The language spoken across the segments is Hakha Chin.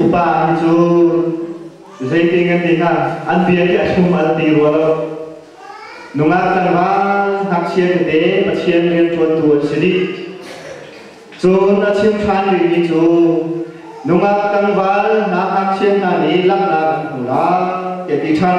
Upa nih cu zeitin an ti hnga an bia i a thlum an ti rua lo. Nungak tlangval ngakchia tete Pathian rianṭuantu an si dih. Cun a chim ṭhan rihmi cu nungak tlangval na ngakchia hna nih laknak an hmu lai, tiah ti ṭhan.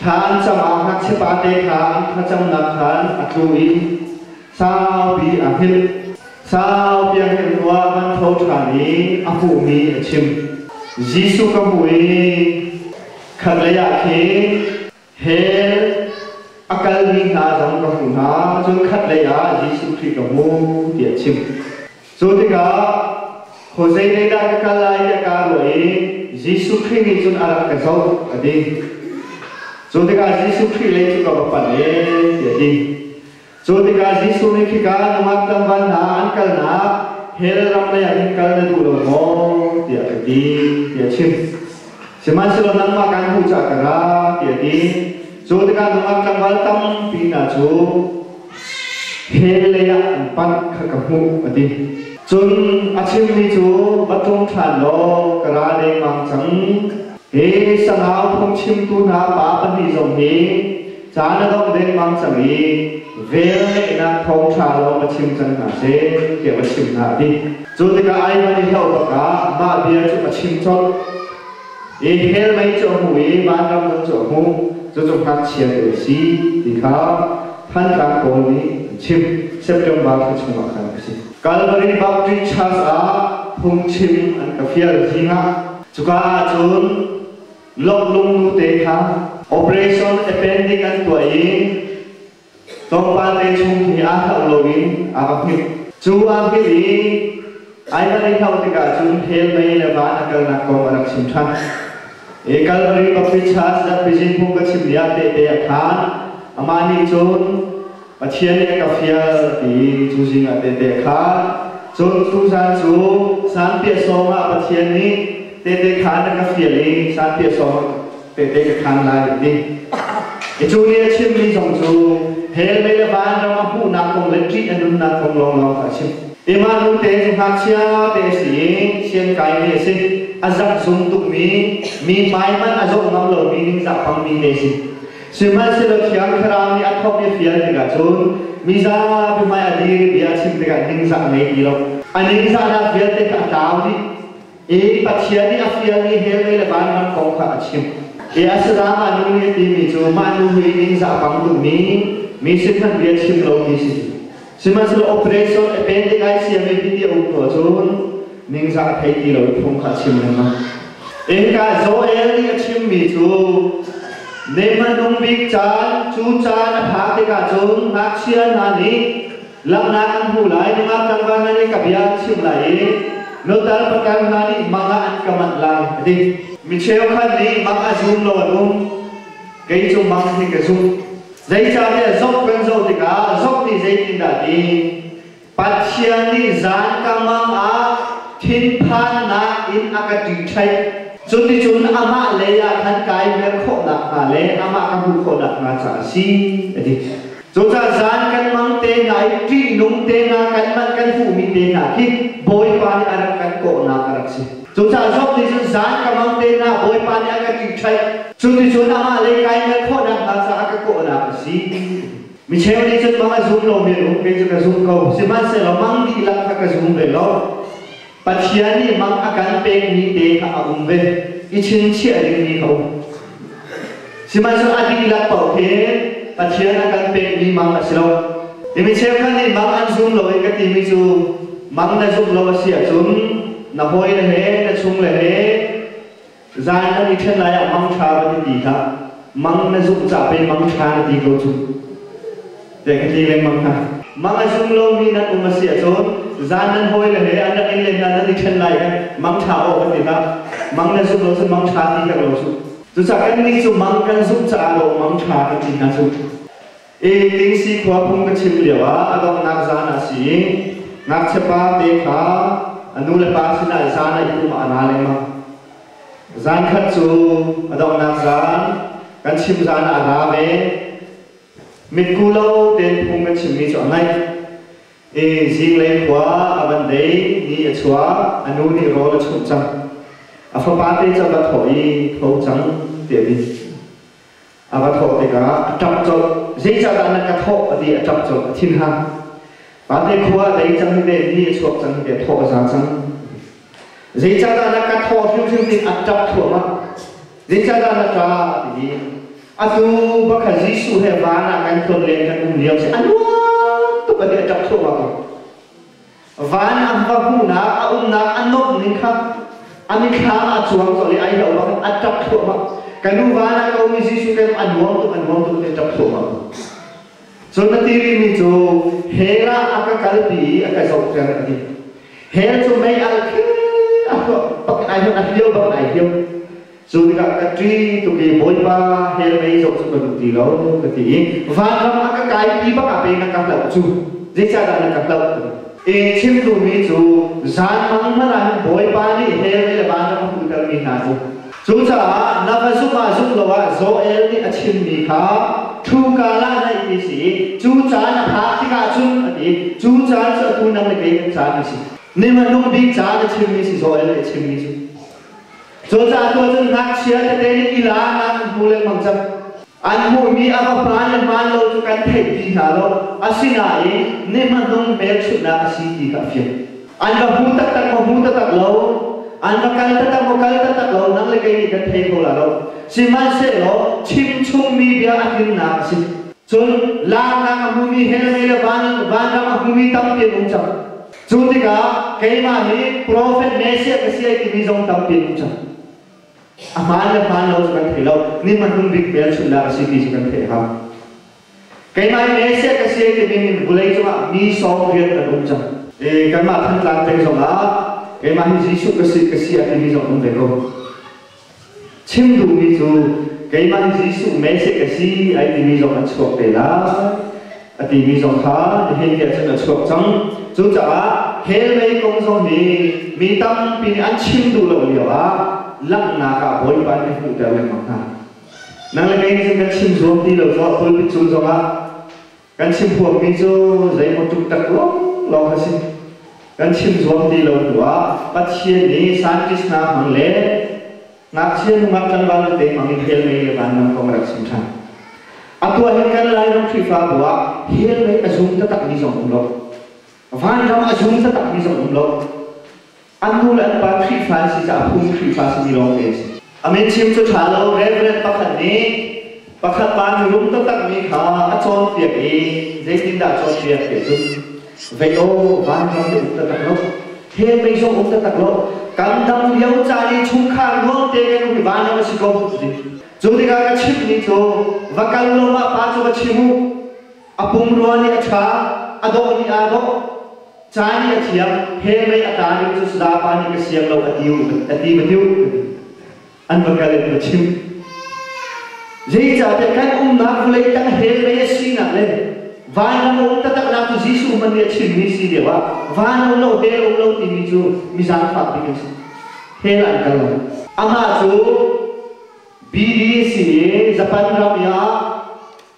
Thlan cangah ngakchia pate kha an thlacamnak khan a tlu i saupi a hngilh. Sau biakinn ruah an tho ṭhan i a hmuhmi a chim. Jesuh ka hmuh i khatlei ah khin hell a kalmi hna zong ka hmuh hna, cun khatlei ah Jesuh Khrih ka hmu tiah a chim. Cu tikah Jose nih dah ka kal lai tiah kaa ruah i Jesuh Khrih nih cun a rak ka zoh, a ti. Cu tikah Jesuh Khrih lei cu ka va panh e, tiah a ti. Cu tikah Jesuh nih khika nungak tlangval hna an kalnak hell ram leiah hin kal na duh lo maw? tiah ka ti, tiah a chim. Sihmanhsehlaw nangmah kan hmuh caah ka ra, tiah a ti. Cu tikah nungak tlangval tampi hna cu he leiah an panh kha ka hmuh a ti cun a chimmi cu va tlung ṭhan law ka ra lengmang cang hi sangau phungchimtu hna pa pahnih zong hi ca na dongh dengmang cang i velngeihnak thawngṭha lawng va chim cang hna seh tiah va chim hna a ti cu tikah ai man i hloh bakah mah bia cu a chim colh Ephel mei cu a hmu i vanram zong cu a hmu, cucu ngakchia ding a si ti kha Thantlang pawl nih an chim. September thla chungah khan a si. Calvary Baptist Church ah phungchim an ka fial zing ah cuka ahcun lawmh lungnu te kha Operation Appendix an tuah i Tlawmpal te chung hi aa hlauh loin aa va philh. Cu aa philh i ai van i hlauh tikah cun hell mei le van a kalnak kong a rak chim ṭhan. Ekal Republicans Zapijin phung ka chim lio tehte ah khan amah nih cun Pathian nih a ka fial ti cu zing ah tehte khan cun cu zan cu san piah sawm ah Pathian nih tehte khan a ka fial i san piah sawm tete ka khan lai a ti. Cu nih a chimmi zong cu hell le le vanram a hmuhnak kong le ṭih a nunnak kong lawnglawng kha a chim. I mah nute cu ngakchia te a si i siankai te a si. A zarh zum tukmi, mi hmaihmanh a zawh ngam lomi ningzah pangmi te a si. Sihmanhsehlaw Thiang Thlarau nih a thawh i fial tikah cun mizapi hmai a dir i bia a chim tikah ningzah ngei ti lo. A ningzahnak vialte kha a tlau dih. I Pathian nih a fialmi hell le vanram kong kha a chimh. Hi a si ah nu nih timi cu mah nu hi ningzah bang dungmi mi sin hmanh bia chim lo ti si. Sihmanhsehlaw operation appendicitis mi hiti a um hnu cun ningzah thei ti lo phung kha a chim lengmang. Innka Joel nih a chimmi cu Neiman nung bik caan, cu caan a phak tikah cun ngakchia hna nih Langhnak an hmu lai, nungak tlangval hna nih ka bia an chim lai i nutar pakan hna nih mang ah an ka manh lai, a ti. Mi cheukhat nih mang a zum lo an um. Kei cu mang hi ka zumh. Zeicahtiah zoh kan zoh tikah zoh nih zeitindah ti Pathian nih zan ka mang ah thinphannak in a ka ṭiṭhaih. Cuticun amah lei ah khan kai mer khawh nakhnga le amah ka hmuh khawh nakhnga caah a si, a ti. Cucah zan kanmang te hna i ṭihnung te hna kanmah kan hmuhmi te hna khi Bawipa nih a rak kan kawhnak a rak si. Cucah Job nih cun zan ka mang te hna Bawipa nih a ka ṭihṭhaih, cuticun amah le kai ngal khawhnak hna caah ka kawhnak a si. Micheu nih cun mang a zum lomi an um, kei cu ka zum ko, sihmanhsehlaw mang dihlak kha ka zum ve lo. Pathian nih mang a kan pekmi te kha a um ve i chinchiah dingmi a um. Sihmanhsehlaw a dihlak paoh hi Pathian a kan pekmi mang a si lo. Hi mi cheukhat nih mang an zum lo i ka timi cu mang na zumh lo a si ahcun na hawile he na chung le he Zan kan i ṭhen lai ah mangṭha va ti ti hlah. Mang na zumh ca pei mangṭha na ti ko cu. Te ka ti lengmang hna. Mang a zum lomi nan um a si ahcun zan nan hawile he an rak i len ah nan i ṭhen lai i mangṭha aw ka ti hlah. Mang na zumh lo cun mangṭha ti herh lo cu. Cucaah kannih cu mang kan zumh caah law mangṭha kan ti hna cu. E Tingsi khua phung ka chim lio ah a donghnak zan a si i ngakchiapa te kha a nu le pa sinah zan ah i pum a na lengmang. Zan khat cu a donghnak zan kan chim zan ah a ra ve. Mitku lo tein phung kan chimmi cu a ngaih. E zinglei khua a van dei ni a chuak a nu nih rawl a chumh cang. A fapa te cu a va thawh i tho cang tiah a ti. a va thawh tikah a ṭam colh. Zeicahdah na ka thawh? a ti a ṭam colh. A thinha, Vante khua a dei cang i ve, ni a chuak cang i ve, thaw a zang cang. Zeicahdah na ka thawh hrimhrim ti a ṭap thluahmah. Zeicahdah na ṭa? a ti i atu bakha Jesuh he van ah kan tlon le kan um lio si a nuam tuk a ti a ṭap thluahmah. Van a va hmuhnak a umnak a nuamh ning kha a mitthlam a cuang colh i ai lo bang a ṭap thluahmah. Ka nu van a komi Jesuh kan a nuam tuk a nuam tuk ti a ṭap thluahmah. Cun a tiri mi cu hell ah a ka kalpi i a ka zohter a ti. Hell cu mei al khi a hluah bak ai hman a hliau bak ai hliau. Cu tikah ka ṭi tuk i Bawipa hell mei zong cu ka duh ti lo ka ti i vanram a ka kaipi bak ah peng a ka hlauh cu zeicahdah na ka hlauh e chim duhmi cu zanmang hmanh ah hin Bawipa nih hell mei le vanram a hmuhtermi hna cu cucaah na va zumh ah zumh lo ah Joel nih a chimmi kha thluka la naih ti si i cu caan a phak tikah cun a ti cu caan cu atu nang le kei kan caan a si ne hmanung bik caan a chimmi si Joel nih a chimmi cu Cu ca tu cun ngakchia tete nih ila nan an hmu lengmang cang. An hmuhmi a va hmaan le hmaan lo cu kan theih ti hna lo. Asinain ni hmahnung hmelchunhnak a si ti ka fian. An va hmu taktak maw hmu taktak lo. An va kal taktak maw kal taktak lo. Nang le kei nih kan thei kho la lo. Sihmanhsehlaw chimchungmi bia a tlinnak a si. Cun laaknak a hmumi hell mei le vanram a hmumi tampi an um cang. Cu tikah keimah hi profet Messiah ka si timi zong tampi a hmu cang. A hmaan le hmaan lo cu kan thei lo. Ni hmanung bik velchum dah a si ti cu kan theih hau. Keimah hi Messiah ka si timi in vulei cungah mi sawm riat kan um cang. I kanmah Thantlang peng zongah keimah hi Jesuh ka si, ka si a timi zong a um ve ko. Chim duhmi cu keimah Jesuh Messiah ka si ai timi zong a chuak te lai a timi zong kha nihin te cun a chuak cang. Cucaah hell mei kong zong hi mi tampi nih an chim duh lo lio ah langhnak ah Bawipa nih a hmuhter lengmang hna. Nang le kei nih cun kan chim zuam ti lo cu a pulpit cung zong ah Kan chim huammi cu zeimaw tuk tak lawnglawng a si. Kan chim zuam ti lo hnuah Pathian nih scientist hna hmang le ngakchia nungak tlangval te hmang in hell mei le vanram kong a rak chim ṭhan. A tuah hin kan Lairam Khrihfabu ah hell mei a zum taktakmi zong um lo. Vanram a zum taktakmi zong um lo. An nu le an pa Khrihfa an si caah phung Khrihfa simi lawng te a si. A mitchim cu ṭha lo, Rev. pakhat nih pakhat pa nih rum taktakmi kha a cawnpiak i zeitindah a cawnpiak ti ahcun, Vei aw, vanram hi um taktak law, the mei zong um taktak law, kan dam lio caan i chungkhar nuamte kan um hi vanram a si ko, ti a si. Cu tikah ka chimhmi cu, va kal law mah pa cu va chim u, A pumrua nih a ṭha, a dawh nih aa dawh, ca nih a thiam, he mei a tla ning cu zapa nih ka siang lo a ti a ti va tiu an va kal in va chim zeicahtiah kan umnak vawlei tang he mei a sinak le vanram um taktaknak cu Jesuh man nih a chimmi si deuh ah van um lo he um lo timi cu mi zaangfak bik in he la an kal lo amah cu bibi a si i Japan ram i ah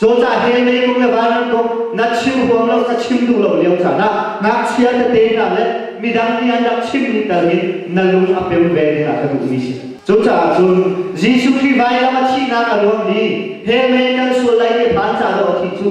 Cawta he lei kung le van kung na chim huam lo ka chim duh lo lio caan ah ngakchia tete hna le midang nih an rak chimmi tal in na lung a pem ve dingah ka duhmi si. Cucaah cun Jesuh Khrih vailam a thihnak a nuam i he mei kan sual lai i phan ca dawh a thi cu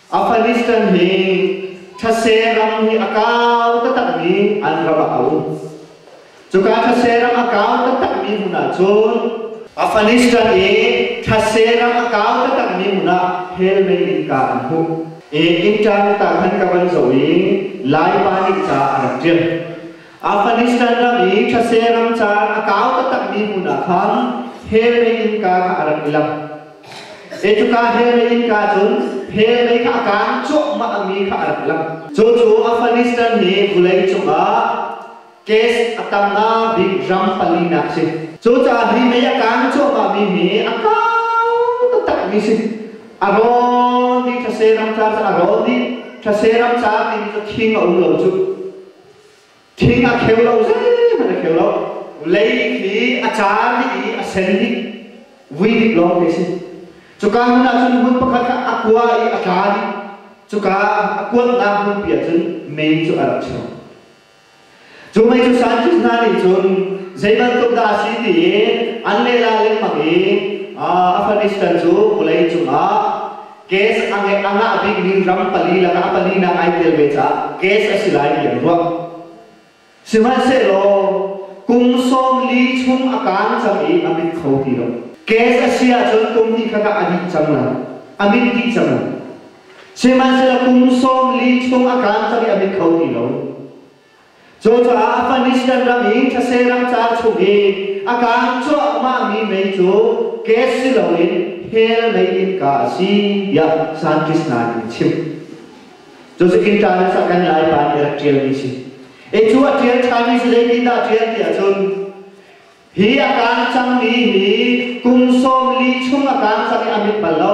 Afghanistan hi thase ram hi a kau taktakmi an ram ah a um. Cuka thase ram a kau taktakmi hmun ah cun Afghanistan i thase ram a kau taktakmi hmun ah hellmei in ka an hmuh. I inn tang tang han ka van zoh i Laipa nih ca a rak ṭial. Afghanistan ram i thase ram caan a kau taktakmi hmu hna khan hellei innka kha a rak i lak. Ecuka hellei innka cun hellei kha a kang cuahmahmi kha a rak i lak. Cu cu Afghanistan hi vulei cungah kes a tamnak bik ram palinak si. Cucaah hi mei a kang cuahmahmi hi a kau taktakmi si. A rawl dih thase ram ca cu a rawl dih. Thase ram ca tiin cu thing a um lo cu. Thing a kheu lo, zeihmanh a kheu lo. Lei khi a car dih i a sen hi vui dip lawng khi a si. Cuka hmun ah cun hmun pakhat kha a kua i a tla dih. Cuka a kuanhnak hmunpi ah cun mei cu a rak chuak. Cu mei cu scientist hna nih cun zeibantuk dah a si tiin an lehla lengmang i Afghanistan cu vawlei cungah Case a ngeih a ngah bikmi ram pali lakah a palinak ai tel ve caah case a si lai ti an ruah. Sihmanhsehlaw, kum sawm li chung a kang cang i a mit kho ti lo. Case a si ahcun kum hnih khat ah a dih cang lai. A mit dih cang lai. Sihmanhsehlaw, kum sawm li chung a kang cang i a mit kho ti lo. Cucaah Afghanistan ram i ṭhase rangcaang chung i a kaan cuahmahmi mei cu gas si loin hell mei innka a si tiah scientist hna nih chim. Cu sikin ṭaan sak kan Laipa nih a rak ṭialmi si. E cu a ṭial ṭhanmi si zeitindah a ṭial ti ahcun hi a kaan cangmi hi kum sawmli chung a kaan cang i a mit bal lo.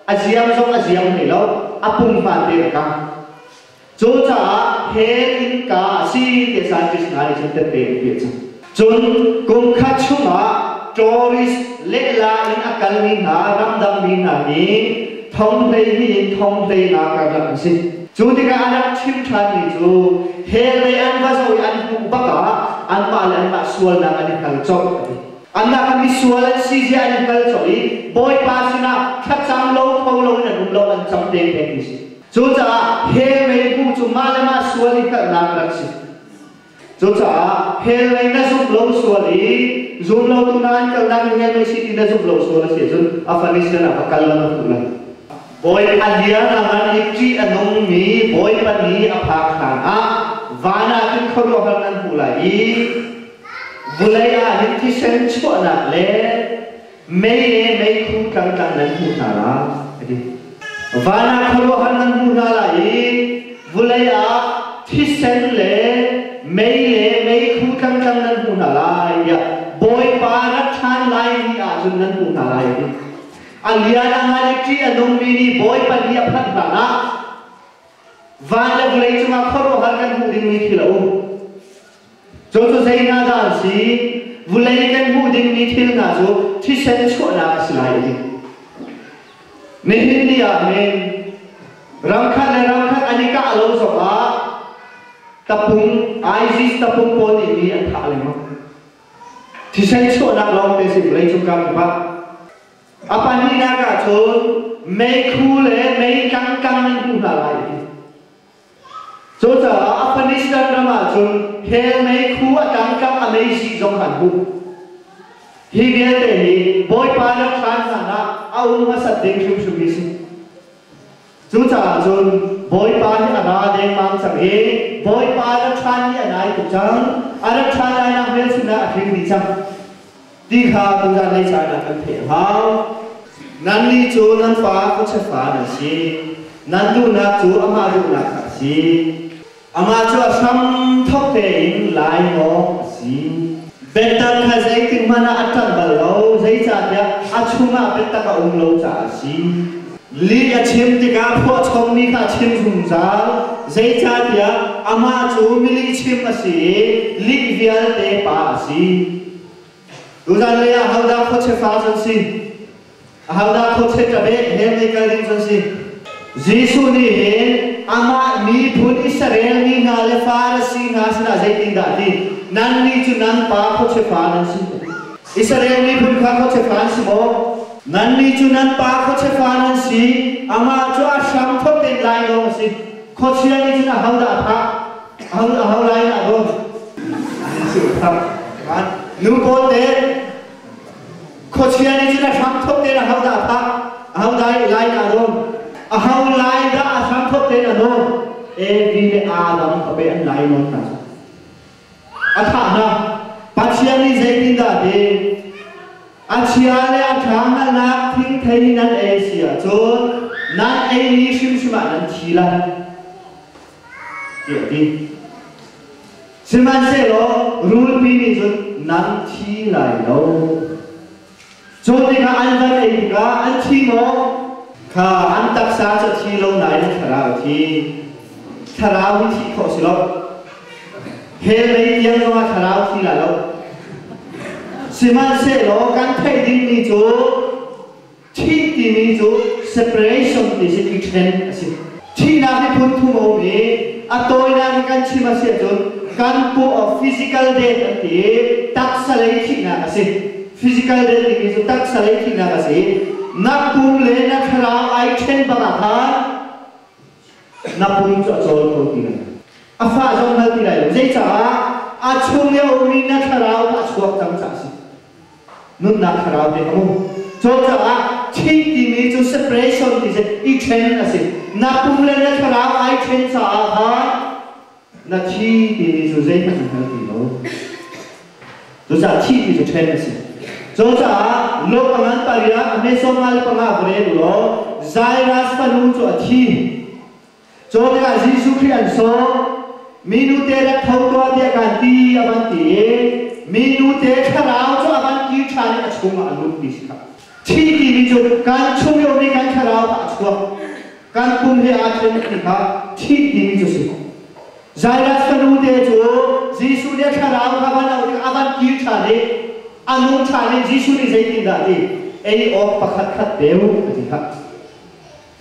A ziam zong a ziam hlei lo. A pum hmate a kaang. Cucaah hen innka a si ti scientist hna nih cun tette in peh cang. Cun kum khat chungah tourist lehla in a kalmi hna ramdangmi hna nih thonghlei nihin thonghlei-nak kan rak a si. Cu tikah a rak chim ṭhanmi cu hellei an va zoh i an hmuh bak ah anmah le anmah sualnak an i hngal colh a ti. Anmah ka misual an si zia an i hngal colh i Bawipa sinah thlacam lo kho loin an um lo an cam te peng ti si. Cucaah hell mei bu cu mah le mah sual i hngalhnak rak si. Cucaah hell mei na zumh lo sual i zum lo tu nain kalnak i hell mei si ti na zumh lo sual a si ahcun a fan i sianah va kal lam a hmuh lai. Bawipa liang a van i ṭih a nungmi Bawipa ni a phak hlanah van ah cun khuaruahhar nan hmuh lai i vulei ah hin thisen chuahnak le mei le meikhu tlangtlang nan hmuh hna lai, a ti. Van ah khuaruahhar nan hmuh hna lai i vulei ah thisen le mei le meikhu tlangtlang nan hmuh hna lai, tiah Bawipa na ṭhan lai ni ahcun nan hmuh hna lai, a ti. A lian a han i ṭi a nungmi nih Bawipa ni a phanh hlanah van le vulei cungah khuaruahhar kan hmuh dingmi thil a um. Cu cu zei hna dah an si? Vulei kan hmuh dingmi thil hna cu thisen chuahnak a si lai i nihin ni ah hin rangkhat le rangkhat an i kah lo zongah tapung ISIS tapung pawl nih mi an thah lengmang. Thisen chuahnak lawngte si vawleicung karkip ah. A pahnihnak ah cun meikhu le meitlang kang in hmuh hna lai i Cucaah Afghanistan ram ahcun hellmei khu a tangka a mei sih zong an hmuh. Hi vialte hi Bawipa nan hran hlan ah a um hmasat ding hrimhrim mi si. Cucaah cun Bawipa hi a ra dengmang cang i Bawipa rat hran hi a nai tuk cang. A rat hran lainak hmelchunhnak a tling dih cang. ti kha tutan lei caan ah kan theih hnga. Nannih cu nan fa khuachiatpa nan si, nan duhnak cu amah duhnak kha a si. Amah cu a hramthawk tein lainawng a si. Biatak kha zeitikhmanh ah a ṭanh bal lo, zeicahtiah a chungah biatak a um lo caah a si. Lih a chim tikah phuahchommi kha a chim zungzal, zeicahtiah amah cu milihchim a si i lih vialte pa a si. Tuzan lei ah hodah khuachia kau an si? Ahodah khuachia tabeh he mei kal ding an si? Jesuh nih hin amah miphun Israel mi hna le Farasi hna sinah zeitindah a ti? Nannih cu nan pa khuachia pa nan si. Israel miphun kha khuachia pa an si maw? Nannih cu nan pa khuachia pa nan si. Amah cu a hram thawt tein lai dawh a si. Khuachia nih cun ahodah a thah? Hang a hang lai na dum. Nu pawl te khuachia nih cun a hram thop te na hau da phak a hau dai lai na dum. A hau lai da a hram thop te na dum. A B le A lam khape an lai nawn na. A thah na Pathian nih zeitindah a ti? A chia le a ṭha hngalhnak thing thei nan ei si ahcun nan ei ni hrimhrim ah nan thi lai. tiah a ti. Sihmanhsehlaw rulpi nih cun nan thi lai lo. Cu tikah an van ei tikah an thi maw? Kha an taksa cu thi lo nain thlarau thi. Thlarau hi thi khawh si lo. Hellei tiang zongah thlarau thi lai lo. Sihmanhsehlaw kan theih dingmi cu Thih timi cu separation ti si i ṭhen a si. Thihnak hi phun thum a um i a tawinak in kan chim a si ahcun kan puh physical death an ti i taksa lei thihnak a si. Physical death timi cu taksa lei thihnak a si i na pum le na thlarau ai ṭhen bang ah khan na pum cu a cawl kho ti lai. A fa zong hngal ti lai lo. Zeicah? A chung i a ummi na thlarau kha a chuak cang caah a si. nunnak thlarau te a um cucaah thih timi cu separation ti si i ṭhen a si na pum le na thlarau ai ṭhen caah khan na thi timi cu zeihmanh an hngal ti lo cucaah thih ti cu ṭhen a si cucaah lo a ngan pariah a hmesom ngal panga va rel u law Jairus fanu cu a thi Cun ah Jesuh Khrih an sawm minu te rak tho tuah tiah kan ti a van ti i minu te thlarau cu a van kir ṭhan i a chungah a lut ti si kha thi timi cu kan chung lio nih kan thlarau kha a chuak kan pum he aa ṭhen ti kha thi timi cu si Jairus fanu te cu Jesuh nih thlarau kha van auh tikah a van kir ṭhan i a nu ṭhan i Jesuh nih zeitindah ti ei awk pakhat khat pe u a ti kha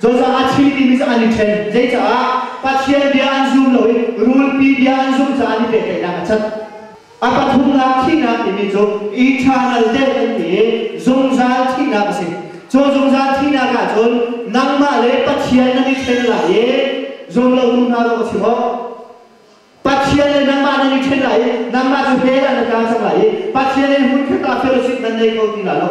Cozah a chim timi cu an i ṭhen. Zeicaah? Pathian bia an zum lo i rulpi bia an zumh caah an i pehtlaihnak a cat. A pathumnak thihnak timi cu eternal death an ti i zungzal thihnak a si. Cu zungzal thihnak ahcun nangmah le Pathian nan i ṭhen lai i zumlotu hna zong a si maw? Pathian le nangmah nan i ṭhen lai i nangmah cu hell ah na tla cang lai i Pathian le hmunkhat ah fellowship nan nei kho ti lai lo.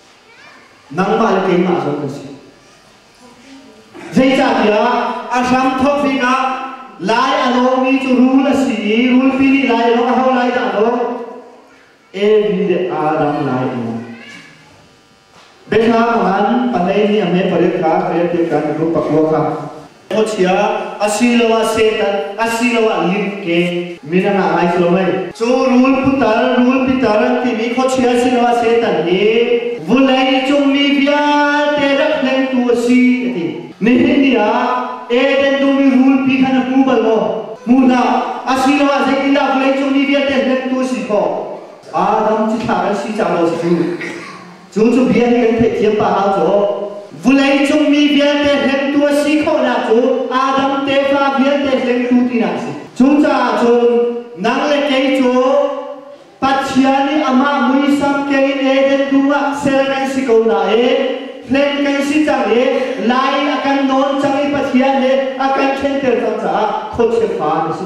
Nangmah le keimah zong kan si. Zeicahtiah a hramthawk pinah lai a lawmmi cu rul a si i rulpi nih lai a lawng a hau lai dah lo Evi le Adam lai in Bethlehem ah khan pahleini a me pariat kha ka riahpiak kan ka pakua kha Khuachia asiloah Satan asiloah limke min a ngah ngai cio mei. Cu rul putar, rul pitar an timi khuachia asiloah Satan hi vulei cungmi vialte rak hlengtu a si a ti. Nihin ni ah Eden dumi rulpi kha na hmu bal maw? Hmu hna, asiloah zeitindah vawleicungmi vialte hlengtu a si khawh? Adam cithlak an si cang maw cu? Cu cu bia hi kan theihthiam pahau cu vulei cung mi vialte hlengtu a si khawhnak cu Adam tefa vialte hlengtu tinak a si. Cucaah cun nang le kei cu Pathian nih amah muisam kengin Eden dum ah ser kan si ko nain hlen kan si cang i lai i a kan nawn cang i Pathian nih a kan thlenter cang caah khuachia fa na si.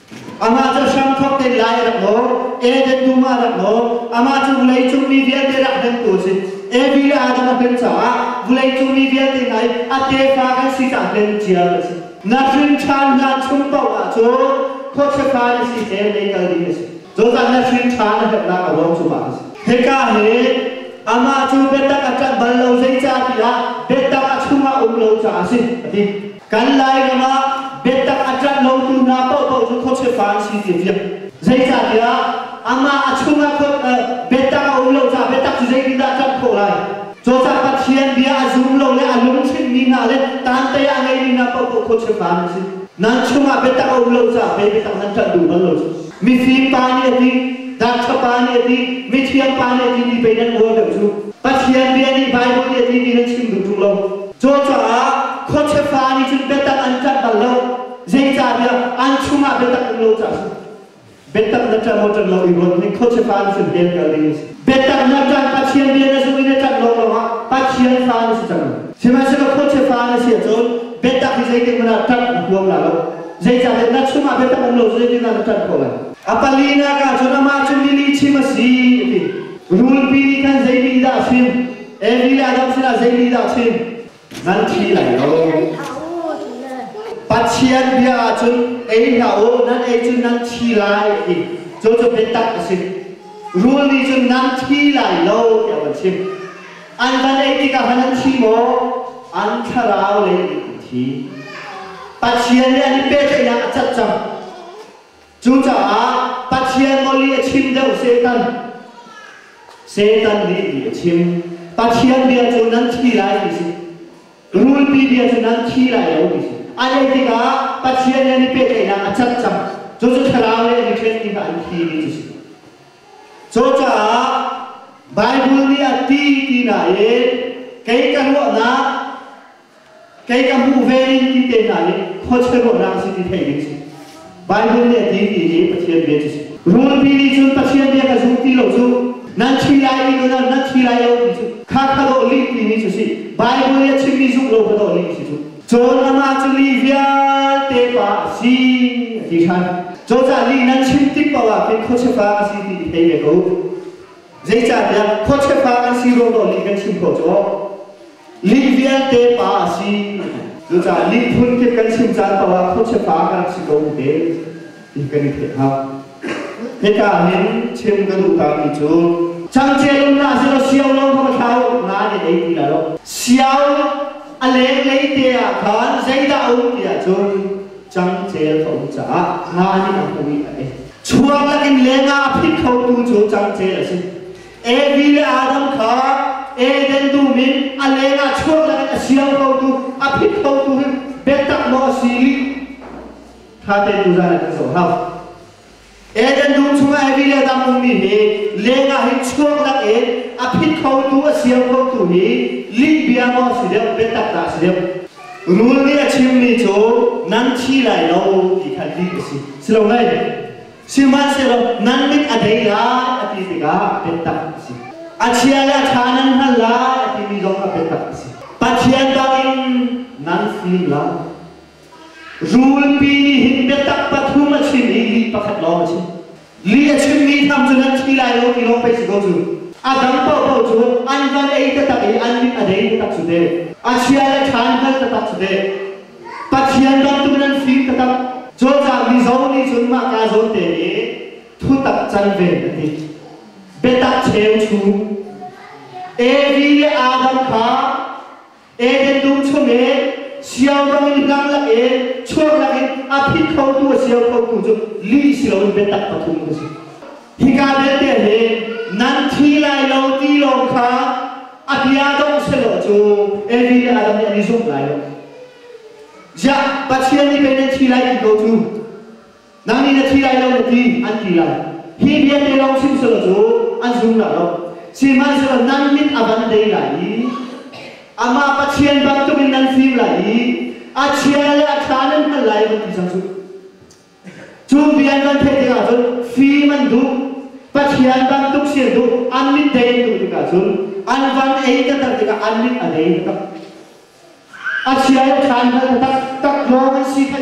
Amah cu hram thok te lai rak law, Eden dum ah rak law, amah cu vulei cung mi vialte rak hnemtu a si. Evi le Adam a hlen caah vulei cung mi vialte ngai a tefa kan si ta hlen cia a si. Na hrinṭhan hlan chung paoh ah cu khuachiatha in si te lei kal ding a si. Joseph na hrinṭhan a herhnak a ruang cu mah a si. Hika hi amah cu biatak a ṭanh bal lo zeicahtiah biatak a chungah um lo caah a si a ti. Kan Lairam ah biatak a ṭanh lotu hna paohpaoh cu khuachia an si ti fiang. Zeicahtiah amah a chungah biatak a um lo caah biatak cu zeitindah a tlanh khawh lai? Cawcah Pathian bia a zum lo le a lungchimmi hna le tantei ah a ngeimi hna paohpaoh khuachia hna an si. Nan chungah biatak a um lo caah mei biatak nan ṭanh duh bal lo cu. Mifim pa nih a ti, Doctor pa nih a ti, mithiang pa nih a ti ti pei nan ual deuh cu. Pathian bia nih Bible nih a ti ti nan chim duhṭung lo. Cu caah khuachia fa nih cun biatak an tlanh bal lo. Zeicahtiah an chungah biatak um lo caah a si. Biatak na ṭan maw ṭan lo i ruat, hi khuachia pa nih cun hell kal ding a si. Biatak hna cang Pathian rian a zung in a ṭanh lawnglawng ah Pathian fa an si cang. Sihmanhsehlaw khuachia fa an si ahcun biatak hi zeitikhmanh ah ṭanh a huam la lo. Zeicahtiah na chungah biatak um lo cu zeitindah na ṭanh khawh lai? A palinak ah cun amah cu mi lihchim a si, a ti. Rulpi nih khan zei nih dah a chim? Evi le Adam sinah zei nih dah a chim? nan thi lai lo Pathian bia ahcun ei hlah u nan ei cun nan thi lai ti cu cu biatak a si rul nih cun nan thi lai lo tiah van chim an van ei tikah han an thi maw an thlarau le an thi Pathian nih an i pehtlaihnak a cat cang Cucaah Pathian nih a chim deuh Satan. Satan nih ti a chim. Pathian bia cu nan thi lai ti si. Rulpi bia cu nan thi lai lo ti si. A leh tikah Pathian nih an i pehtlaihnak a cang cang. Cucu thlarau le an i ṭhen tikah an thi ti cu si. Cucaah Baibal nih a ti ti nain kei ka ruahnak Kei ka hmuh ve ding ti te hna hi khuachia ruahnak a si ti theih ding si. Bible nih a ti ti hi Pathian bia cu si. Rulpi nih cun Pathian bia ka zul ti lo cu nan thi lai i nan nan thi lai lo ti cu kha ka dawh lih timi cu si. Bible nih a chimmi zumh lo ka dawh lih si cu. Cun amah cu mi vialte pa a si a ti hran. Cozah nih nan chim tik paoh ah khin khuachia pa a si ti i thei ve ko. Zeicahtiah khuachia an si dawhdawh nih kan chim khawh cu ning vialte pa a si. Cucaah lihphun kip kan chim caan paoh ah khuachia pa kan si ko te ti kan i theih hna. Hika ahhin chim ka duh tami cu changchiat um hlah selaw siau lo kha va thlau nain a ei ti lai lo. Siau a lenglei te ah khan zeidah a um ti ahcun cangcel a um caah nga nih a hmu i a ei. Chuak lakin lenga a phit khotu cu cangcel a si. Evi le Adam kha Eden dum in a leng ah chuak lakin a siang khotu a phit khotu hi biatak maw a si i kha te tu zan kan zoh hau. Eden dum chungah mi le dang ummi hi leng ah hin chuak lak in a phit khotu a siam khotu hi lih bia maw si deuh biatak dah si deuh rul nih a chimmi cu nan thi lai lo ti kha ti a si si lo hlei sihmanhsehlaw nan mit a dei lai a ti tikah biatak a si a chia le a ṭha nan hngal lai a timi zong a biatak a si pathian bangin nan fim lai Rulpi nih hin biatak pathum a chim i li pakhat lawng a chim. Li a chimmi tham cun an thi lai lo ti lawng pei si ko cu. A dang paohpaoh cu an van ei taktak i an mit a dei taktak cu te. A chia le ṭha an hngalh taktak cu te. Pathian bantuk in an fim taktak. Cawlcang mi zawn nih cun mah kaa zawn te nih thutak can ve a ti. Biatak cheu chung. Evi le Adam kha Eden dum chungin siaudang in hlan lakin chuak lakin a phit khotu a siau khotu cu li si loin biatak pathum ka si. Hika vialte hi nan thi lai lo ti lawng kha a bia dong si lo cu everyday a dang nih an i zumh lai lo. Ya, Pathian nih pei nan thi lai ti ko cu. Nang nih na thi lai lo na ti an ti lai. Hi vialte lawng sihmanhsehlaw cu an zumlo lo. Sihmanhsehlaw nan mit a van dei lai i amah Pathian bantuk in nan fim lai i a chia le a ṭha nan hngalh lai van ti cang cu. Cu vian van theih tikah cun fim an duh, Pathian bantuk si an duh, an mit dei an duh tikah cun an van ei taktak tikah an mit a dei taktak. A chia le ṭha an hngalh taktak, tak lawng an si phanh.